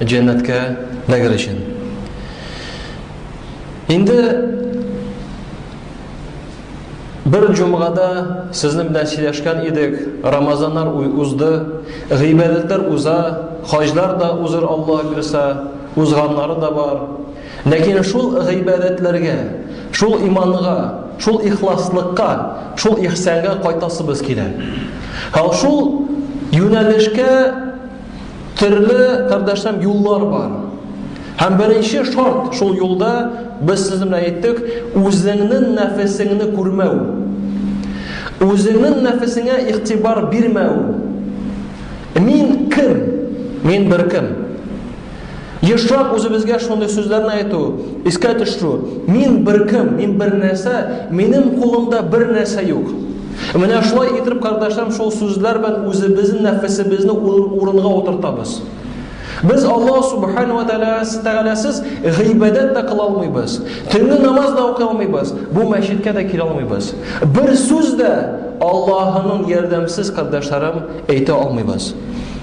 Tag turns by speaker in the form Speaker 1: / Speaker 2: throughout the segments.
Speaker 1: Җәннәткә дәгер өчен. Инде бер җомгада сезнең белән сөйләшкән идек, Рамазаннар узды, гыйбадәтләр уза, хаҗлар да узыр Аллаһ бирсә, узганнары да бар. Ләкин шул гыйбадәтләргә, шул иманга, шул ихласлыкка, шул ихсанга кайтасыбыз килә. Һәм шул юнәлешкә Төрле, кардәшләм, юллар бар. Һәм беренче шарт шул юлда без сезнең белән әйттек, үзеңнең нәфесеңне күрмәү. Үзеңнең нәфесеңә игътибар бирмәү. Мин кем? Мин бер кем. Ешлап үзебезгә шундый сүзләрне әйтү, искә төшерү. Мин бер кем, мин бер нәрсә, минем кулымда бер нәрсә юк. Менә шулай итеп, кардәшләрем, шул сүзләр белән үзебезнең нәфесебезне урынга утыртабыз. Без Аллаһ субхану ва тәгаләсез гыйбадәт тә кыла алмыйбыз. Төнге намаз да укый алмыйбыз. Бу мәчеткә дә килә алмыйбыз. Бер сүз дә Аллаһының ярдәмсез кардәшләрем әйтә алмыйбыз.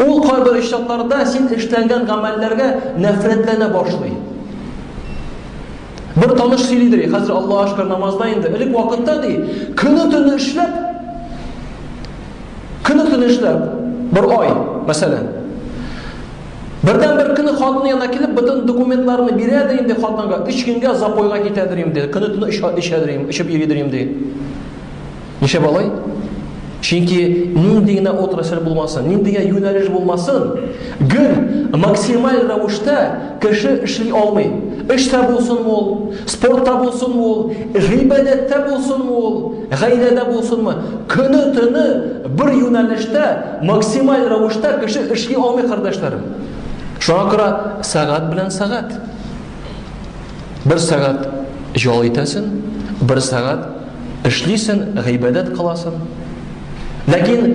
Speaker 1: Ул кайбер очракларда син эшләнгән гамәлләргә нәфрәтләнә башлый. Бер таныш сөйлидер, ди, хәзер Аллаһ шөкер намазда инде. Элек вакытта ди, көне төне эшләп, көне төне эшләп, бер ай, мәсәлән. Бердән бер көне хатыны янына килеп, бөтен документларны бирә дә инде хатынга, 3 көнгә запойга китәдер инде. Көне төне эчәдер инде, эчеп йөридер инде. Нишләп алай? Чөнки нинди генә отрасль булмасын, нинди генә юнәлеш булмасын, гел максималь рәвештә кеше эшли алмый. Эштә булсын ул, спортта булсын ул, гыйбадәттә булсын ул, гаиләдә булсынмы, көне төне бер юнәлештә максималь рәвештә кеше эшли алмый, кардәшләрем. Шуңа күрә сәгать белән сәгать. Бер сәгать җал итәсен, бер сәгать эшлисен, гыйбадәт кыласын. Ләкин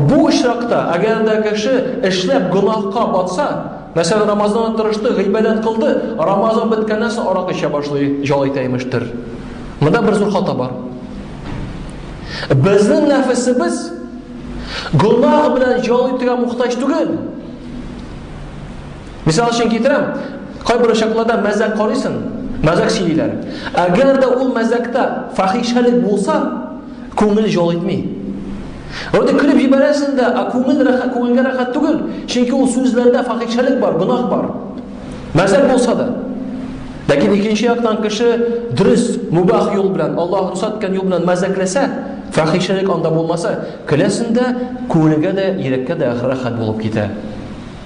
Speaker 1: бу очракта, әгәр дә кеше эшләп гөнаһка батса, мәсәлән, Рамазанда тырышты, гыйбадәт кылды, Рамазан беткәннән соң арак эчә башлый, җал итә имештер. Монда бер зур хата бар. Безнең нәфесебез гөнаһ белән җал итүгә мохтаҗ түгел. Мисал өчен китерәм, кайбер очакларда мәзәк карыйсың, мәзәк сөйлиләр. Әгәр дә ул мәзәктә фахишәлек булса, күңел җол итми. Вроде көлеп җибәрәсең дә, а күңел рәхәт, күңелгә рәхәт түгел, чөнки ул сүзләрдә фахишәлек бар, гөнаһ бар. Мәзәк булса да. Ләкин икенче яктан кеше дөрес, мубах юл белән, Аллаһ рөхсәт иткән юл белән мәзәкләсә, фахишәлек анда булмаса, көләсендә, күңелгә дә, йөрәккә дә рәхәт булып китә.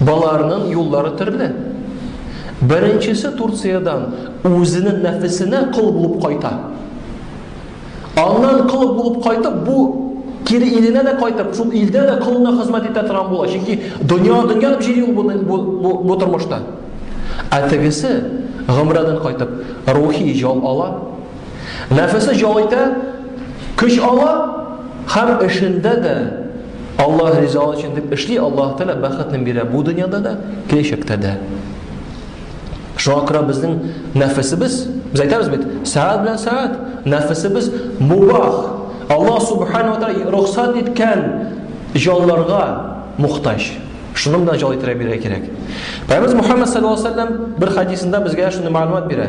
Speaker 1: Боларның юллары төрле. Беренчесе Турциядән үзенең нәфесенә кол булып кайта. Аннан кол булып кайтып, бу кире иленә дә кайтып, шул илдә дә колына хезмәт итә торган була. Чөнки дөнья дөнья дип җыри ул бу, бу, бу тормышта. Ә тегесе гомрәдән кайтып, рухи җал ала. Нәфесе җал итә, көч ала һәм эшендә дә Аллаһ ризалыгы өчен дип эшли, Аллаһ Тәгалә бәхетне бирә бу дөньяда да, киләчәктә дә. Шуңа күрә безнең нәфесебез, без әйтәбез бит, сәгать белән сәгать, нәфесебез мубах. Аллаһ Субхану ва Тәгалә рөхсәт иткән җаннарга мохтаҗ. Шуны гына җал итәргә бирә кирәк. Пәйгамбер Мухаммад саллаллаһу алейһи ва сәлләм бер хәдисендә безгә шуны мәгълүмат бирә.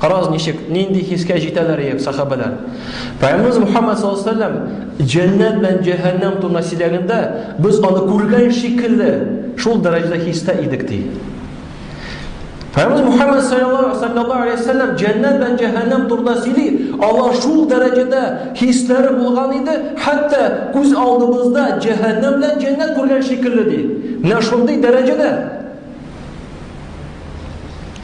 Speaker 1: Карагыз ничек, нинди хискә җитәләр иек сахабәләр. Пәйгамберебез Мухаммад саллаллаһу алейһи вәсәлләм җәннәт белән җәһәннәм турында сөйләгәндә, без аны күргән шикелле шул дәрәҗәдә хистә идек ди. Пәйгамберебез Мухаммад саллаллаһу алейһи вәсәлләм җәннәт белән җәһәннәм турында сөйли, алар шул дәрәҗәдә хисләре булган иде, хәтта күз алдыбызда җәһәннәм белән җәннәт күргән шикелле ди. Менә шундый дәрәҗәдә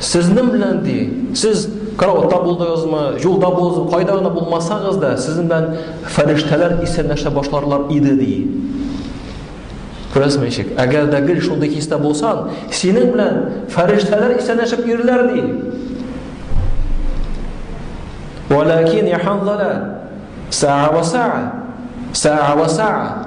Speaker 1: Сезнең белән ди, сез караватта булдыгызмы, юлда булдыгызмы, кайда гына булмасагыз да, сезнең белән фәрештәләр исәнләшә башларлар иде ди. Күрәсең ничек? Әгәр дә гел шундый хистә булсан, синең белән фәрештәләр исәнләшеп йөриләр ди. Валакин яханзала саа ва саа саа ва саа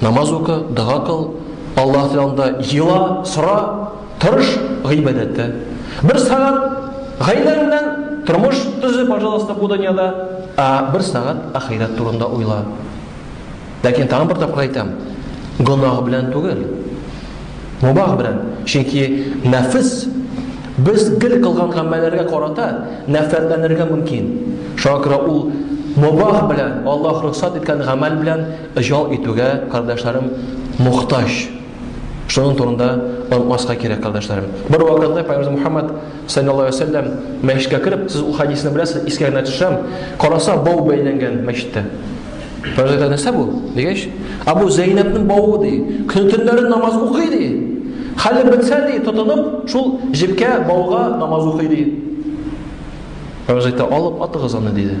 Speaker 1: Намаз укы, дога кыл, Аллаһ янында ела, сора, тырыш гыйбадәттә. Бер сагат гаиләң белән тормыш төзе, пожалуйста, бу дөньяда, ә бер сагат ахирәт турында уйла. Ләкин тагын бер тапкыр әйтәм, гөнаһ белән түгел. Мубах белән. Чөнки нәфс без гел кылган гамәлләргә карата нәфрәтләнергә мөмкин. Шуңа күрә ул мубах белән, Аллаһ рөхсат иткән гамәл белән Җал итүгә, кардәшләрем, мохтаҗ. Шуның турында онытмаска кирәк, кардәшләрем. Бервакытны Пәйгамбәребез Мухәммәд, салләллаһу алейһи вә сәлләм, мәчеткә кереп, сез ул хәдисне беләсез, искә генә төшерәм, караса, бау бәйләнгән мәчеттә. Пәйгамбәребез әйтә, нәрсә бу? дигәч, ә бу Зәйнәбнең бавы, ди. Көне-төннәрен намаз укый, ди. Хәле бетсә, ди, тотынып, шул җепкә, бауга намаз укый, ди. Пәйгамбәребез әйтә, алып атыгыз аны, диде.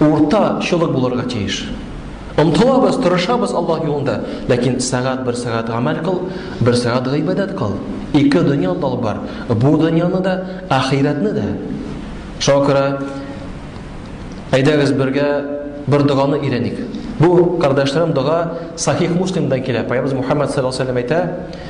Speaker 1: Урта чолык булырга тиеш. Омтылабыз, тырышабыз Аллаһ юлында, ләкин сәгать бер сәгать гамәл кыл, бер сәгать гыйбадәт кыл. Ике дөньяны да алып бар, бу дөньяны да, ахирәтне дә. Шуңа күрә әйдәгез бергә бер доганы өйрәник. Бу, кардәшләрем, дога Сахих Муслимдан килә. Пәйгамбәрбез Мухаммад саллаллаһу алейһи ва сәлләм әйтә,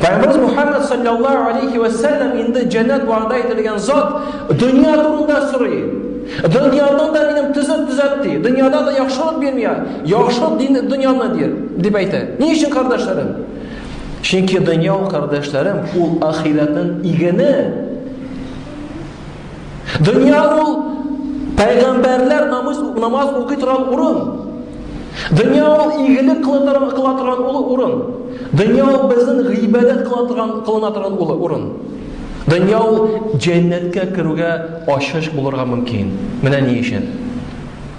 Speaker 1: Пәйгамбәрбез Мухаммад саллаллаһу алейхи ва саллям инде җәннәт вәгъдә ителгән зат дөнья турында сорый. Дөньяны да минем төзеп төзәт ди. Дөньяда да яхшылык бирмия. Яхшылык дин дөньяны ди, дип әйтә. Ни өчен кардәшләрем? Чөнки дөнья ул кардәшләрем, ул ахирәтнең игене. Дөнья ул пәйгамбәрләр намаз, намаз укый торган урын. Дөнья ул игелек кыла торган улы урын. Дөнья ул безнең гыйбадәт кыла торган кылына торган улы урын. Дөнья ул җәннәткә керүгә ачыш булырга мөмкин. Менә ни өчен.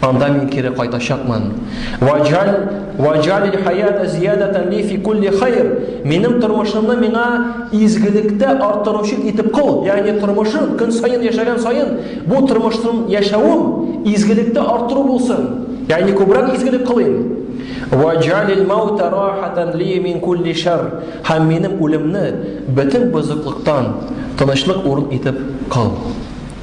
Speaker 1: Анда мин кире кайтачакмын. Ваҗал ваҗалил хаята зиядатан ли фи кулли хайр. Минем тормышымны миңа изгелектә арттыручы итеп кыл. Ягъни тормышым көн саен яшәгән саен бу тормышым яшәвем изгелектә арттыру булсын. Ягъни күбрәк изгелек кылыйм. Ваҗалил маута рахатан ли мин кулли шар. Һәм минем үлемне бөтен бозыклыктан тынычлык урын итеп кыл.